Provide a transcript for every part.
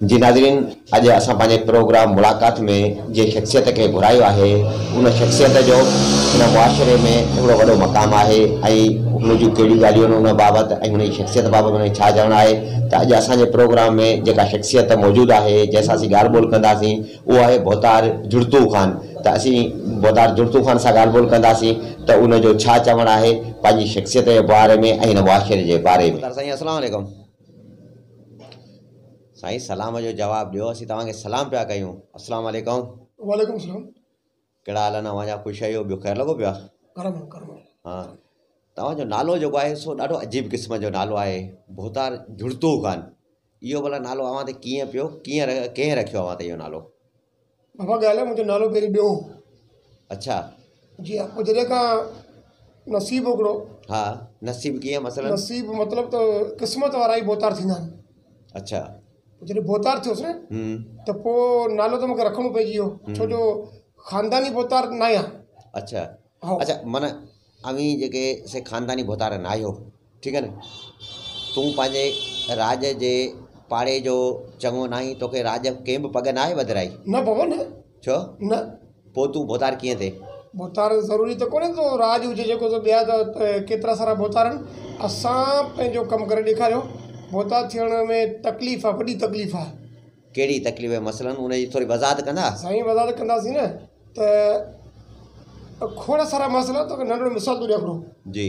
جي ناظرين اڄ اسان پنهنجي پروگرام ملاقات ۾ جنهن شخصيت کي گهرايو آهي ان شخصيت جو ان معاشري ۾ ڪهڙو وڏو مقام آهي ۽ هن جون ڪهڙيون ڳالهيون آهن ان بابت ۽ هن جي شخصيت بابت هن کي ڇا چوڻ آهي ته اڄ اسانجي پروگرام ۾ جيڪا شخصيت موجود آهي جنهن سان اسين ڳالهه ٻولهه ڪنداسين اهو آهي ڀوتار جڙتو خان ته اسين ڀوتار جڙتو خان سان ڳالهه ٻولهه ڪنداسين ته ان جو ڇا چوڻ آهي پنهنجي شخصيت جي باري ۾ ۽ هن معاشري جي باري ۾. ڀوتار سائين اسلام عليڪم سائين سلام جو جواب ڏيو اسين توهان کي سلام پيا ڪيون اسلام عليڪم. وعليڪم سلام. ڪهڙا حال آهن اوهان جا خوش آهيو ٻيو خير لڳو پيو آهي ڪرم ڪرم ها توهان جو نالو جيڪو آهي سو ڏاڍو عجيب قسم جو نالو آهي ڀوتار جڙتو خان اهو ڀلا نالو اوهان تي ڪيئن پيو ڪيئن ڪنهن رکيو اوهان تي اهو نالو بابا ڳالهه آهي منهنجو نالو پهرين ٻيو اڇا جي ها پوء جڏهن کان نصيب هڪڙو ها نصيب ڪيئن مثلا نصيب مطلب ته قسمت وارا ئي ڀوتار ٿيندا آهن اڇا پوء جڏهن ڀوتار ٿيس نه ته پوء نالو ته مونکي رکڻو پئجي ويو ڇو جو خانداني ڀوتار ناهيان اڇا اڇا معنيٰ اوهين جيڪي سي خانداني ڀوتار ناهيو ٺيڪ آهي نه تون پنهنجي راڄ جي پاڙي جو چڱو ناهين توکي راڄ ڪنهن به پڳ ناهي وڌرائي نه بابا نه ڇو؟ نه. پوء تون ڀوتار ڪيئن ٿئي؟ ڀوتار ضروري ته ڪونهي ته راڄ هجي جيڪو ته ٻيا ته ڪيترا سارا ڀوتار آهن. اسان پنهنجو ڪم ڪري ڏيکاريو. ڀوتار ٿيڻ ۾ تڪليف آهي، وڏي تڪليف آهي. ڪهڙي تڪليف آهي مثلاً؟ ان جي ٿوري وضاحت ڪندا؟ سائين وضاحت ڪنداسين نه ته کوڙ سارا مسئلا توکي ننڍڙو مثال ٿو ڏيان هڪڙو. جي.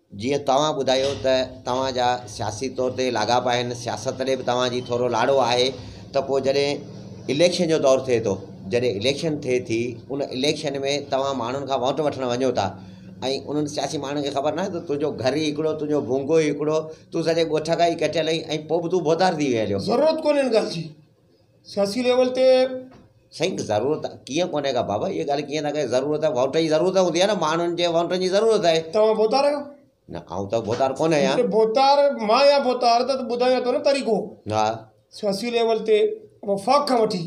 جيئن توهان ٻڌايو ته توهان جا سياسي طور تي لاڳاپا آهن سياست ڏي به توهان جي ٿورو لاڙو آهي ته پوء جڏهن اليڪشن جو دور ٿئي ٿو جڏهن اليڪشن ٿئي ٿي ان اليڪشن ۾ توهان ماڻهن کان ووٽ وٺڻ وڃو ٿا ۽ انهن سياسي ماڻهن کي خبر ناهي ته تنهنجو گهر ئي هڪڙو تنهنجو ڀونگو ئي هڪڙو تون سڄي ڳوٺ کان ئي ڪٽيل آهين ۽ پوء به تون ڀوتار ٿي ويل آهين ضرورت ڪونهي ان ڳالهه جي سياسي ليول تي سائين ضرورت ڪيئن ڪونهي ڪا بابا اها ڳالهه ڪيئن ٿا ڪيو ضرورت ووٽ جي ضرورت هوندي آهي ماڻهن جي ووٽن جي ضرورت آهي توهان ڀوتار آهيو نه آئون ته ڀوتار ڪونهي آهيان جي ڀوتار مان آهيان ڀوتار ته ٻڌايان ٿو نه طريقو ها سياسي ليول تي وفاق کان وٺي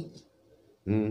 هم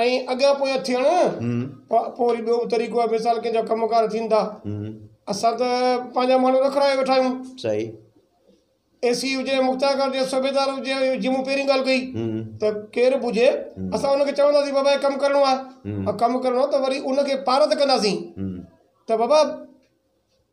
ائين اڳيان پويان ٿيڻ پوء وري ٻيو به طريقو آهي مثال ڪنهن جا ڪم ڪار ٿين ٿا اسان ته پنهنجا ماڻهو رکرايو ويٺا آهيون صحيح اي سي هجي مختيار ڪار هجي صوبيدار هجي جي مون پهرين ڳالهه ڪئي ته ڪير به هجي اسان ان کي چونداسين بابا هي ڪم ڪرڻو آهي ڪم ڪرڻو آهي ته وري ان کي پارت ڪنداسين ته بابا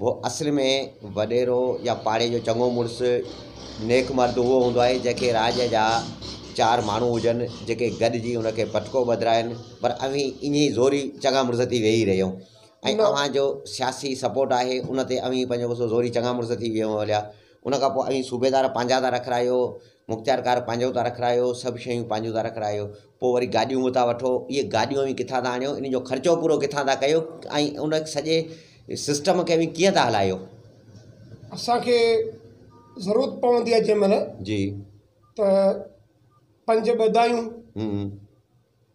هو اصل ۾ وڏيرو يا پاڙي جو چڱو مڙس، نيڪ مرد اهو هوندو آهي، جنهن کي راڄ جا چار ماڻهو هجن، جيڪي گڏجي هن کي پٽڪو ٻڌرائين، پر اوهين ايئن ئي زوري چڱا مڙس ٿي ويهي رهيو ۽ اوهان جو سياسي سپورٽ آهي، ان تي اوهين پنهنجو غصو زوري چڱا مڙس ٿي ويهو هليا. ان کان پوء اوهين صوبيدار پنهنجا ٿا رکرايو، مختيارڪار پنهنجو ٿا رکرايو، سڀ شيون پنهنجون ٿا رکرايو. پوء وري گاڏيون به ٿا وٺو، اهي گاڏيون اوهين ڪٿان ٿا آڻيو، ان جو خرچو پورو ڪٿان ٿا ڪيو ۽ ان سڄي سسٽم کي اوهين ڪيئن ٿا هلايو؟ اسان کي ضرورت پوندي آهي جنهن مهل جي ته پنج ٻه دايون هون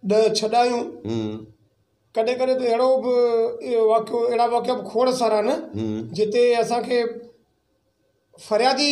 ڏهه ڇهه ڏايون هون ڪڏهن ڪڏهن ته اهڙو به واقعو اهڙا واقعا به کوڙ سارا آهن جتي اسان کي فريادي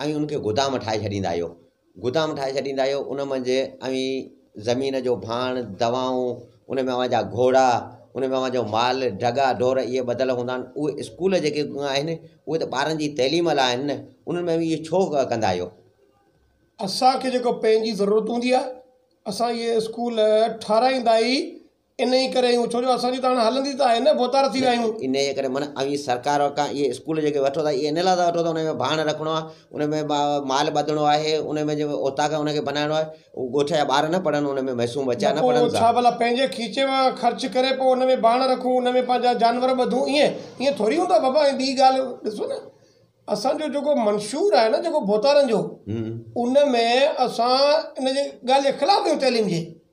اوهين ان کي گدام ٺاهي ڇڏيندا آهيو، گدام ٺاهي ڇڏيندا آهيو، ان منجهه اوهين زمين جو ڀاڻ، دوائون، ان ۾ اوهان جا گهوڙا، ان ۾ اوهان جو مال، ڍڳا ڍور اهي ٻڌل هوندا آهن، اهي اسڪول جيڪي آهن، اهي ته ٻارن جي تعليم لاء آهن نه، انهن ۾ اوهين اهي ڇو ڪندا آهيو؟ اسان کي جيڪو پنهنجي ضرورت هوندي آهي، اسان اهي اسڪول ٺهرائيندا ئي انهيء ڪري اهو ڇو جو اسان جي ته هاڻي هلندي ته آهي نه ڀوتار ٿي ويا آهيون. انهيء ڪري معنيٰ اوهين سرڪار کان اهي اسڪول جيڪي وٺو ٿا اهي ان لاء ٿا وٺو ته ان ۾ ڀاڻ رکڻو آهي ان ۾ مال ٻڌڻو آهي ان ۾ جيڪو اوطاق آهي ان کي بنائڻو آهي اهو ڳوٺ جا ٻار نه پڙهن ان ۾ معصوم ٻچا نه پڙهن ڇا ڀلا پنهنجي کيچي مان خرچ ڪري پوء ان ۾ ڀاڻ رکون ان ۾ پنهنجا جانور ٻڌون ائين ائين ٿوري هوندو آهي بابا ۽ ٻي ڳالهه ڏسو نه اسان جو جيڪو منشور آهي نه جيڪو ڀوتارن جو ان ۾ اسان ان جي ڳالهه جي خلاف آهيون تعليم جي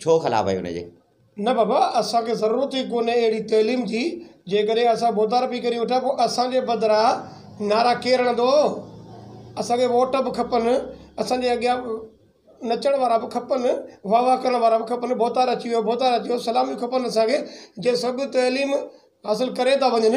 ڇو خلاف آهيو ان جي؟ نه بابا، اسان کي ضرورت ئي ڪونهي اهڙي تعليم جي، جيڪڏهن اسان بوتار پي ڪري وٺا پوء اسان جي بدران نعرا ڪير هڻندو؟ اسان کي ووٽ به کپن، اسان جي اڳيان نچڻ وارا به کپن، واهه واهه ڪرڻ وارا به کپن، بوتار اچي ويو، بوتار اچي ويو، سلاميون کپن اسان کي، جي سڀ تعليم حاصل ڪري ٿا وڃن،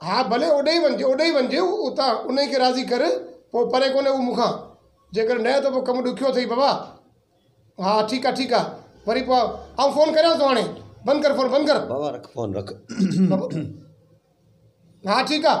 ها ڀلي اوڏي ئي وڃجي، اوڏي ئي وڃجي اتان انهيء کي راضي ڪر، پوء پري ڪونهي هو مون کان. جيڪڏهن نه ته پوء ڪم ڏکيو اٿئي بابا. ها ٺيڪ آهي، ٺيڪ آهي، وري پوء آئون فون ڪريانس ٿو هاڻي. بند ڪر فون، بند ڪر. بابا رک فون، رک. ها ٺيڪ آهي.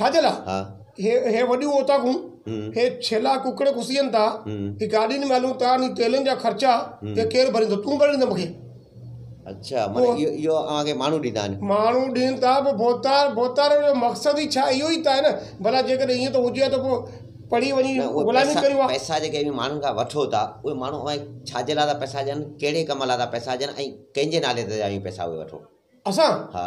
ڇاجي لا هي هي وڏيون اوطاقون هي ڇيلا ڪڪڙ کسين ٿا هي گاڏين ۾ هلون ٿا ني تيلن جا خرچا هي ڪير ڀريندو تون ڀري ڏيندين مون کي اڇا مون ايو اوهان کي ماڻهو ڏيندا آهن ماڻهو ڏين ٿا پو بوتار بوتار جو مقصد ئي ڇا ايو ئي ته آهي نه ڀلا جي ڪڏهن ايئن ٿو هجي ها ته پو پڙهي وڃي غلامي ڪريون ها پئسا جي ڪي ماڻهن کان وٺو ٿا اهي ماڻهو اوهان کي ڇا جي لا ٿا پئسا ڏين ڪهڙي ڪم لا ٿا پئسا ڏين ۽ ڪنهن جي نالي تي ٿا پئسا اهي وٺو اسان ها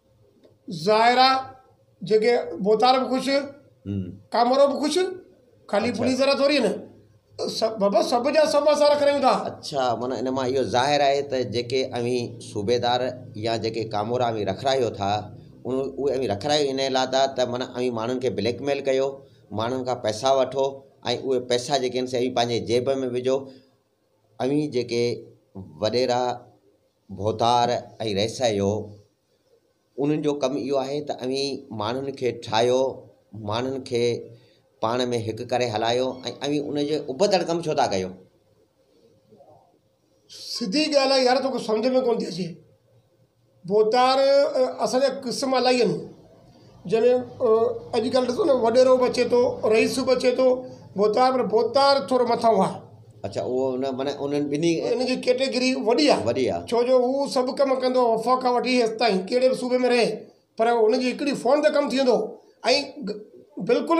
ظاهر آ جيڪي بوتار به خوش ڪامورو به خوش خالي پولي ذرا ٿوري آهن سڀ بابا سڀ جا سڀ اسان رکي رهيون ٿا اچھا معنيٰ ان مان اهو ظاهر آهي ته جيڪي اوهين صوبيدار يا جيڪي ڪامورا اوهين رکرايو ٿا ان اهي اوهين رکرايو ان لاء ٿا ته معنيٰ اوهين ماڻهن کي بليڪ ميل ڪيو ماڻهن کان پئسا وٺو ۽ اهي پئسا جيڪي آهن سي اوهين پنهنجي جيب ۾ وجھو اوهين جيڪي وڏيرا ڀوتار ۽ ريسهه جو انهن جو ڪم اهو آهي ته اوهين ماڻهن کي ٺاهيو ماڻهن کي پاڻ ۾ هڪ ڪري هلايو ۽ اوهين ان جي ابتڙ ڪم ڇو ٿا ڪيو. سڌي ڳالهه آهي يار توکي سمجهه ۾ ڪونه ٿي اچي ڀوتار اسان جا قسم الاهي آهن جنھن اڄ ڪلھ ڏسو نھ وڏيرو بھ اچي ٿو رئيس بھ اچي ٿو ڀوتار پر ڀوتار ٿورو مٿانھون آھي. اڇا اھو ان معنيٰ انھن ٻنھي. ان جي ڪيٽيگري وڏي آھي. وڏي آھي. ڇو جو ھو سڀ ڪم ڪندو آھي وفاق کان وٺي ھيس تائين ڪھڙي بھ صوبي ۾ رھي پر ھن جي ھڪڙي فون تي ڪم ٿي ويندو ۽ بلڪل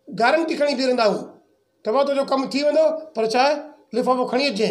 گارنٽي کڻي بيھي رھندا ھو تھ ڀاء تنھنجو ڪم ٿي ويندو پر ڇا لفافو کڻي اچجي.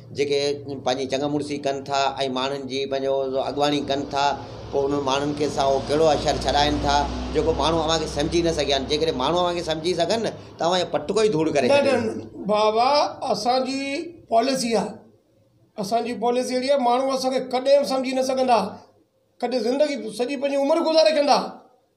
جيڪي پنهنجي چڱ مڙسي ڪن ٿا ۽ ماڻهن جي پنهنجو اڳواڻي ڪن ٿا پوء انهن ماڻهن کي سان اهو ڪهڙو اشر ڇڏائين ٿا جيڪو ماڻهو اوهان کي سمجهي نه سگهيا آهن جيڪڏهن ماڻهو اوهان کي سمجهي سگهن نه ته اوهان جو پٽڪو ئي ڌوڙ ڪري ڇڏيندو نه نه بابا اسانجي پاليسي آهي اسانجي پاليسي اهڙي آهي ماڻهو اسانکي ڪڏهن به سمجهي نه سگهندا ڪڏهن زندگي سڄي پنهنجي عمر گذاري ڪندا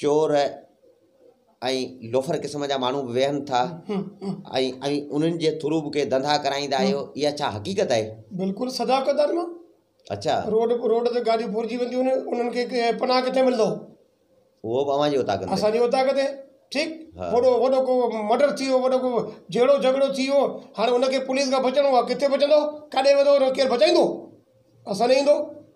چور ۽ لوفر قسم جا ماڻهو به ويهن ٿا ۽ ۽ انهن جي ٿرو به ڪي ڌنڌا ڪرائيندا آهيو اها ڇا حقيقت آهي بلڪل سدا قدر مان اڇا روڊ روڊ تي گاڏيون ڦرجي وينديون آهن انهن کي پناهه ڪٿي ملندو اهو به اوهان جي اوطاق تي اسان جي اوطاق تي ٺيڪ ها. وڏو وڏو ڪو مڊر ٿي ويو وڏو ڪو جهيڙو جهڳڙو ٿي ويو هاڻي ان کي پوليس کان بچڻو آهي ڪٿي بچندو ڪاڏي ويندو ان کي ڪير بچائيندو اسان ڏي ايندو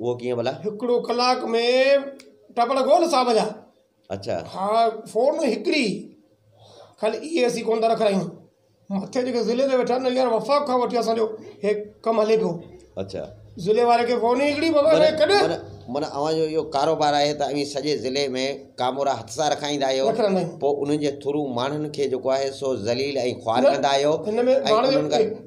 اهو ڪيئن ڀلا؟ هڪڙو ڪلاڪ ۾ ٽپڙ ڪون صاحب جا. اڇا. ها فون هڪڙي ئي خالي اي اي سي ڪون ٿا رکرايون مٿي جيڪي ضلعي تي ويٺا آهن هينئر وفاق کان وٺي اسان جو هي ڪم هلي پيو اڇا. ضلعي واري کي فون ئي هڪڙي بابا معنيٰ ڪڏهن معنيٰ معنيٰ اوهان جو اهو ڪاروبار آهي ته اوهين سڄي ضلعي ۾ ڪامورا هٿ سان رکائيندا آهيو رکرائيندا آهيون. پوء انهن جي ٿرو ماڻهن کي جيڪو آهي سو ذليل ۽ خوار نه ڪندا آهيو هن ۾ ۽ ماڻهن انهن کي جو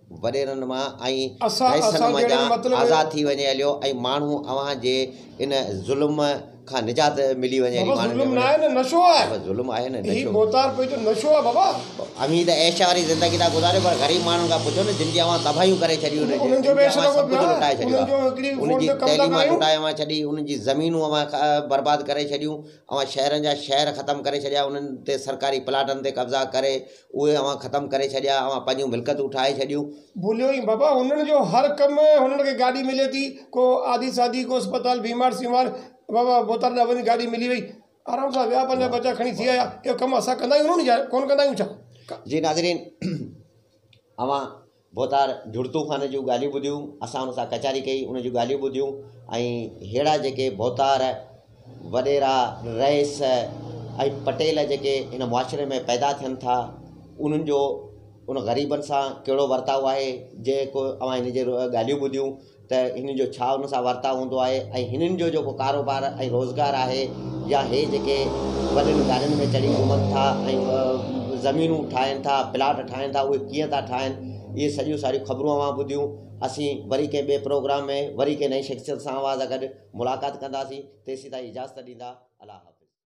وڏيرن مان ۽ رئيسن مان جان آزاد ٿي وڃي عليو ۽ ماڻهو اوهان جي ان ظلم کان نجات ملي وڃي علي ماڻهن ۾ وڃي بابا ظلم آهي نه نشو بوتار پنهنجو نشو آهي بابا اوهين ته عيش واري زندگي ٿا گذاريو پر غريب ماڻهن کان پڇو نه جن جي اوهان تباهيون ڪري ڇڏيون نه انهن جو عيش لڳو پيو آهي انهن جي تعليم لٽائي اوهان ڇڏي انهن جي زمينون اوهان برباد ڪري ڇڏيون اوهان شهرن جا شهر ختم ڪري ڇڏيا انهن تي سرڪاري پلاٽن تي قبضا ڪري اهي اوهان ختم ڪري ڇڏيا، اوهان پنهنجون ملڪتون ٺاهي ڇڏيون. ڀوليو ۽ بابا هنن جو هر ڪم هنن کي گاڏي ملي ٿي ڪو آڌي ساڌي ڪو اسپتال بيمار سيمار بابا بوتار ڏانهن وڃي گاڏي ملي وئي آرام سان ويا پنهنجا ٻچا کڻي ٿي آيا اهو ڪم اسان ڪندا آهيون ڪون ڪندا آهيون ڇا. جي ناظرين اوهان ڀوتار جڙتو خان جون ڳالهيون ٻڌيون، اسان ان سان ڪچهري ڪئي، ان جون ڳالهيون ٻڌيون ۽ ههڙا جيڪي ڀوتار، وڏيرا، رئيس ۽ پٽيل جيڪي هن معاشري ۾ پيدا ٿين ٿا، انهن جو ان غريبن سان ڪهڙو ورتاء آهي، جيڪو اوهان هن جي ڳالهيون ٻڌيون. ته هن جو ڇا ان سان ورتاء هوندو آهي ۽ هنن جو جيڪو ڪاروبار ۽ روزگار آهي يا هي جيڪي وڏين گاڏين ۾ چڙهي گهمن ٿا ۽ زمينون ٺاهين ٿا پلاٽ ٺاهين ٿا اهي ڪيئن ٿا ٺاهين اهي سڄيون ساريون خبرون اوهان ٻڌيون اسين وري ڪنهن ٻئي پروگرام ۾ وري ڪنهن نئين شخصيت سان اوهان سان گڏ ملاقات ڪنداسين تيسين تائين اجازت ڏيندا الله حافظ